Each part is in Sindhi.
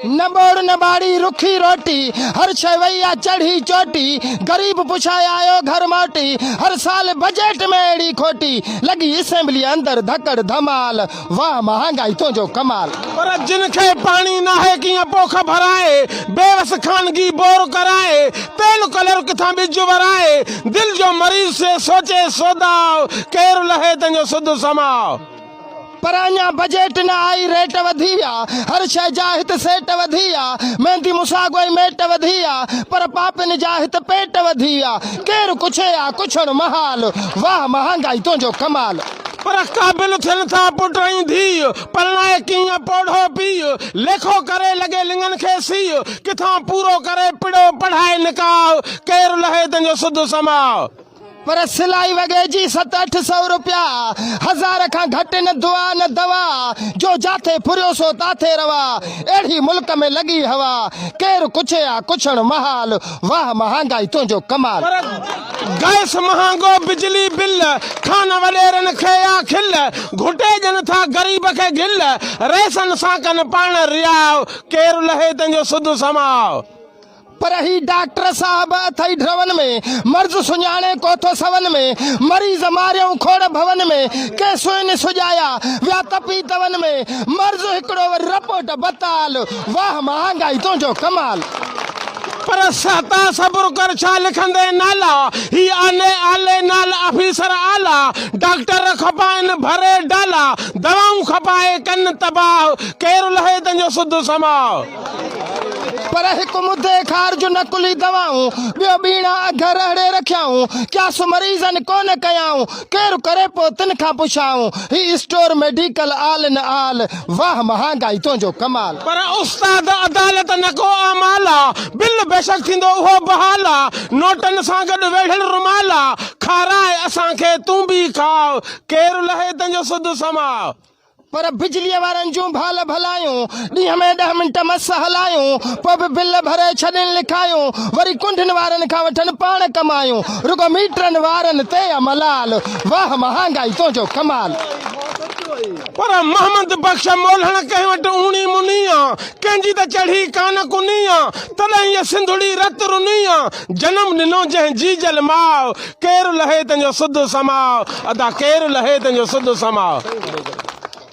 نه ٻوڙ نه ٻاڙي رکي روٽي، هر شيء وئي آ چڙهي چوٽي، غريب پڇائي آيو گهر موٽي، هر سال بجيٽ ۾ اهڙي کوٽي، لڳي اسيمبليء اندر ڌڪڙ ڌمال، واهه مهانگائي تنهنجو ڪمال. پر جن کي پاڻي ناهي ڪيئن پوک ڀرائي، بيوس خانگي بور ڪرائي، تيل ڪلر ڪٿان ٻج ورائي، دل جو مريض سي سوچي سوداء، ڪير لهي تنهنجو سڌ سماء. پر اڃان بجيٽ نه آئي ريٽ وڌي ويا هر شئي جا هت سيٽ وڌي ويا ميندي مساڳوئي ميٽ وڌي ويا پر پاپين جا هت پيٽ وڌي ويا ڪير ڪڇي آ ڪڇڻ محال واهه مهانگائي تنهنجو ڪمال. پر قابل ٿين ٿا پٽ ۽ ڌيء پرڻائي ڪيئن پوڙهو پيء ليکو ڪري لڳي لڱن کي سيء ڪٿان پورو ڪري پڙهو پڙهائي نڪاح ڪير لهي تنهنجو سڌ سماء. پر سلائي وڳي جي ست اٺ سئو روپيا هزار کان گهٽ نه دعا نه دوا جو جاٿي ڦريو سو تاٿي روا اهڙي ملڪ ۾ لڳي هوا ڪير ڪڇي آ ڪڇڻ محال واهه مهانگائي تنهنجو ڪمال. پر گئس مهانگو بجلي بل کان وڏيرن کي آ کل گهٽي ڏين ٿا غريب کي گل رئيسن سان ڪن پاڻ رياء ڪير لهي تنهنجو سڌ سماء. پر هي ڊاڪٽر صاحب اٿئي ڍرون ۾، مرض سڃاڻي ڪوٿو سون ۾، مريض ماريئون کوڙ ڀون ۾، ڪي سوئن سجايا ويا تپي تون ۾، مرض هڪڙو وري رپورٽ بتال، واهه مهانگائي تنهنجو ڪمال. پر سهتا صبر ڪر ڇا لکندين نالا، هي آلي آلي نال آفيسر اعليٰ، ڊاڪٽر کپائن ڀري ڊالا، دوائون کپائي ڪن تباهه، ڪير لهي تنهنجو سڌ سماء. پر هڪ مدي خار جون نقلي دوائون، ٻيو ٻيڻا اگهه رهڙي رکيائون، قياس مريضن ڪو نه ڪيائون، ڪير ڪري پو تن کان پڇائون، هي store medical all in all, واهه مهانگائي تنهنجو ڪمال. پر استاد عدالت نه ڪو اعمال آ، بل بيشڪ ٿيندو اهو بحال آ، نوٽن سان گڏ ويڙهيل رومال آ، کارائي اسان کي تون به کاء، ڪير لهي تنهنجو سڌ سماء. پر بجليء وارن جون ڀال ڀلايون، ڏينهن ۾ ڏهه منٽ مس هلايون، پوء به بل ڀري ڇڏين لکايون، وري ڪنڊن وارن کان وٺن پاڻ ڪمايون، رڳو ميٽرن وارن تي آ ملال، واهه مهانگائي تنهنجو ڪمال. پر محمد بخش مولهڻ ڪنهن وٽ اوني مني آ، ڪنهن جي ته چڙهي ڪانه ڪني آ، تڏهن هيء سنڌڙي رت رني آ، جنم ڏنو جنهن جيجل ماء، ڪير لهي تنهنجو سڌ سماء. ادا ڪير لهي تنهنجو سڌ سماء.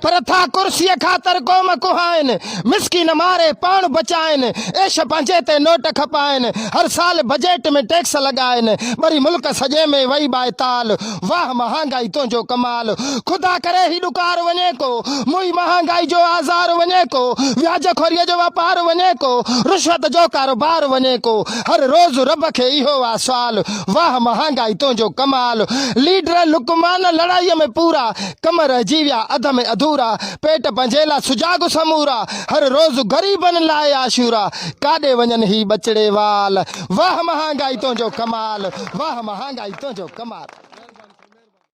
پر ٿا ڪرسيء خاطر قوم ڪهائين. مسڪين ماري پاڻ بچائين. عيش پنهنجي تي نوٽ کپائين. هر سال بجيٽ ۾ ٽيڪس لڳائين. ٻري ملڪ سڄي ۾ وئي ٻائي تال. واهه مهانگائي تنهنجو ڪمال. خدا ڪري هي ڏڪار وڃي ڪو. موئي مهانگائي جو آزار وڃي ڪو. وياج خوريء جو واپار وڃي ڪو. رشوت جو ڪاروبار وڃي ڪو. هر روز رب کي اهو آ سوال. واهه مهانگائي تنهنجو ڪمال. ليڊر لقمان لڙائيء ۾ پورا، ڪم رهجي ويا اڌ ۾ اڌورا، پيٽ پنهنجي لاء سجاڳ سمورا، هر روز غريبن لاء عاشورا، ڪاڏي وڃن هي ٻچڙي وال. واهه مهانگائي تنهنجو ڪمال. واهه مهانگائي تنهنجو ڪمال.